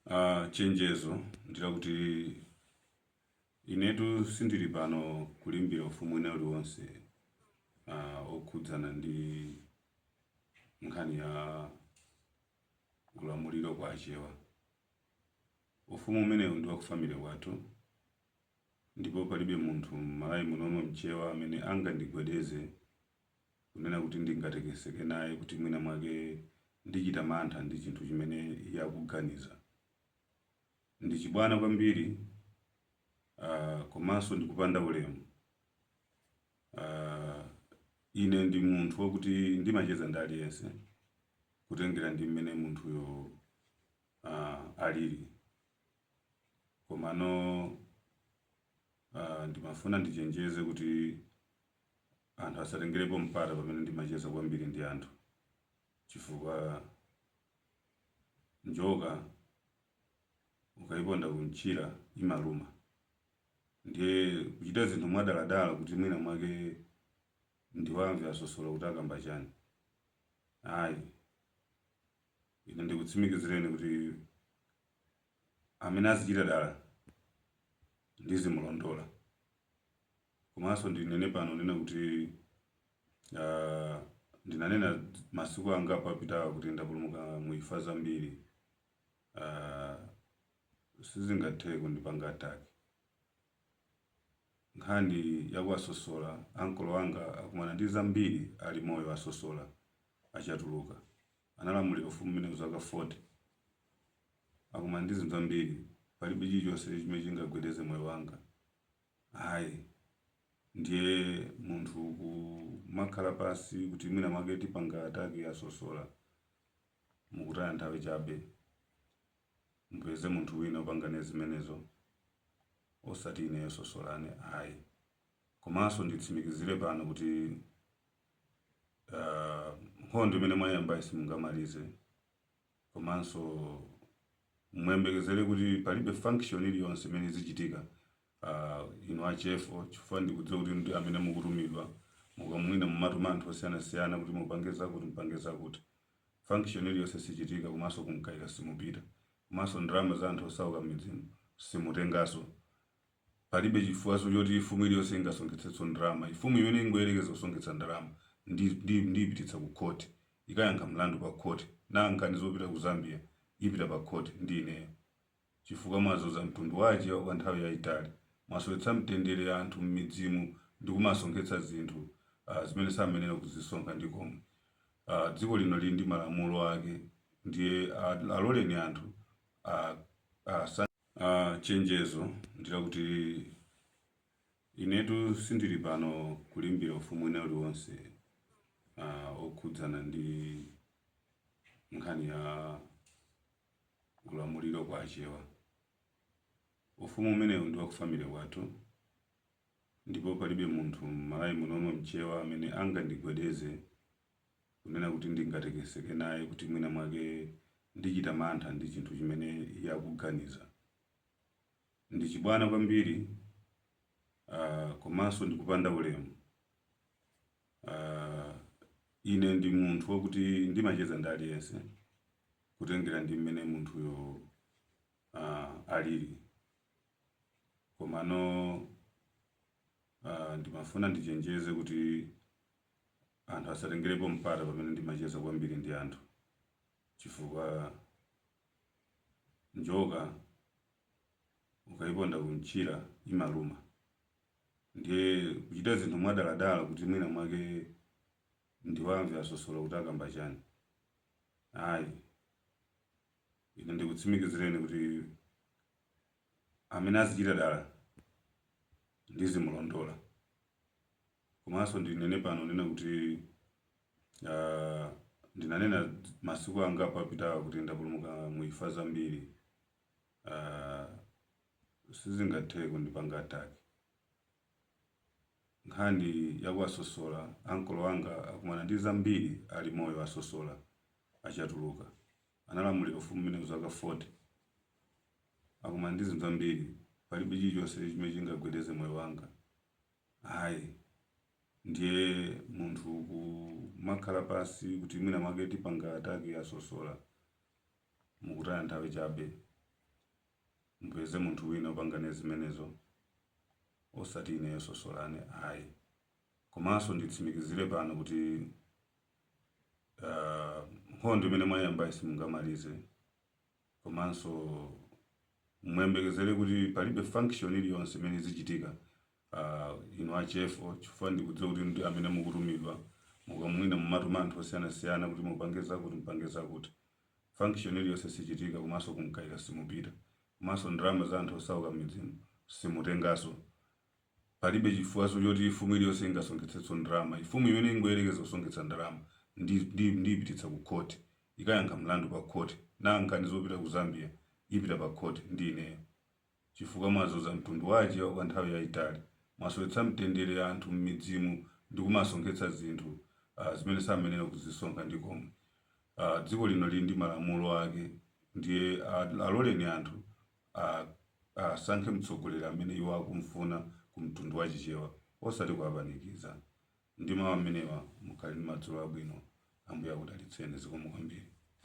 Uh, chenjezo ndilakuti inetu sindili pano kulimbira ufumu wina uliwonse uh, okhudzana ndi nkhani ya ulamuliro kwa achewa ufumu umenewu ndi wakufamily kwathu ndipo palibe munthu m'Malawi munomo mchewa amene angandigwedeze kunena kuti ndingatekeseke naye kuti mwina mwake ndichita mantha ndi chinthu chimene iye akuganiza. Ndi chibwana kwambiri uh, komanso ndikupanda ulemu. Uh, ine ndi munthu wakuti ndimacheza ndi aliyense kutengera ndi mmene munthuyo uh, alili komano uh, ndimafuna ndichenjeze kuti anthu asatengerepo mpata pamene ndimacheza kwambiri ndi anthu chifukwa njoka ukayiponda kumchira imaluma ndiye kuchita zinthu mwadaladala kuti mwina mwake ndiwamve a Sosola kuti akamba chani ayi ine ndikutsimikizireni kuti amene azichita dala ndizimulondola Komanso ndinene pano kunena kuti aah ndinanena masiku angapo apitawa kuti ndapulumuka mu imfa zambiri aah sizingatheke kundipanga attack. Nkhani ya kwa Sosola ankolo anga akumana ndi zambiri ali moyo a Sosola, a Chatuluka analamulira ufumu umenewu zaka 40. Akumana ndi zinthu zambiri palibe chilichonse chimene chingagwedeze moyo wanga. Ayi. Ndiye munthu kumakhala pansi kuti mwina mwake tipanga attack ya Sosola, mukutaya nthawi chabe. Mupeze munthu wina opanga naye zimenezo osati ineyo Sosolane ayi. Komanso nditsimikizire pano kuti aah nkhondo imene mwayambayi simungamalize. komanso muyembekezere kuti palibe function iliyonse imene izichitika uh, inu a chefo chifukwa ndikudziwa kuti ndi amene mukutumidwa muka mwina mumatuma anthu osiyanasiyana kuti mupange zakuti mupange zakuti function iliyonse sichitika komanso ku Mkaika simupita komanso ndalama za anthu osauka midzimumu simutengaso Palibe chifukwaso choti fumu iliyose ingasonkhetseso ndalama. Fumu imene ingayelekeze kusonkhetsa ndalama ndiyipititsa ku court ikayankhe mlandu pa court. Nanga nkhani zopita ku Zambia ipita pa court ndi ineyo? Chifukwa mwazunza mtundu wa achewa kwa nthawi yaitali. Mwasowetsa mtendere anthu mmidzimu ndikumasonkhetsa zinthu zimene samayenera kuzisonkha ndikomwe. Dziko lino lili ndi malamulo ake ndiye aloleni anthu asankhe. Uh, chenjezo ndilakuti inetu sindili pano kulimbirana ufumu wina uliwonse uh, okhudzana ndi nkhani ya ulamuliro wa Achewa ufumu umenewu ndi waku family kwathu ndipo palibe munthu m'Malawi munomo mchewa amene angandigwedeze kunena kuti ndingatekeseke naye kuti mwina mwake ndichita mantha ndi chinthu chimene iye akuganiza. Ndi chibwana kwambiri uh, komanso ndikupanda ulemu. Uh, ine ndi munthu wakuti ndimacheza ndi aliyense kutengera ndi mmene munthuyo uh, alili komano uh, ndimafuna ndichenjeze kuti anthu asatengerepo mpata pamene ndimacheza kwambiri ndi anthu chifukwa njoka ukayiponda kumtchira imaluma ndiye kuchita zinthu mwadaladala kuti mwina mwake ndiwamve a Sosola kuti akamba chani ayi ine ndikutsimikizireni kuti amene azichita dala ndizimulondola Komanso ndinene pano kunena kuti aah ndinanena masiku angapo apitawa kuti ndapulumuka mu imfa zambiri aah sizingatheke kundipanga attack. Nkhani ya kwa Sosola ankolo anga akumana ndi zambiri ali moyo a Sosola, a Chatuluka analamulira ufumu umenewu zaka 40. Akumana ndi zinthu zambiri palibe chilichonse chimene chingagwedeze moyo wanga. Ayi. Ndiye munthu kumakhala pansi kuti mwina mwake tipanga attack a Sosola, mukutaya nthawi chabe. Mupeze munthu wina wopanga naye zimenezo osati ineyo Sosola ine ayi. Komanso nditsimikizire pano kuti aah nkhondo imene mwayambayi simungamalize. komanso muyembekezere kuti palibe function iliyonse imene izichitika uh, inu a chefo chifukwa ndikudziwa kuti ndi amene mukutumidwa mukumva mumatuma anthu osiyanasiyana kuti mupange zakuti mupange zakuti function iliyonse sichitika komanso kumkaira simupita komanso ndalama za anthu osauka mmidzimu simutengaso Palibe chifukwaso choti mfumu iliyonse ingasonkhetseso ndalama. Mfumu imene ingoyerekeza kusonkhetsa ndalama ndiyipititsa ku court ikayankha mlandu pa court. Nanga nkhani zopita ku Zambia ipita pa court ndi ineyo? Chifukwa mwazunza mtundu wa achewa kwa nthawi yayitali. Mwasowetsa mtendere anthu mmidzimu ndikumasonkhetsa zinthu zimene samayenera kuzisonkha ndikomwe. Dziko lino lili ndi malamulo ake ndiye aloleni anthu. asankhe mtsogoleri amene iwo akumfuna ku mtundu wa chichewa osati kuwapanikiza ndi mau amenewa mukhale ndi madzulo abwino ambuye akudalitseni zikomo kwambiri.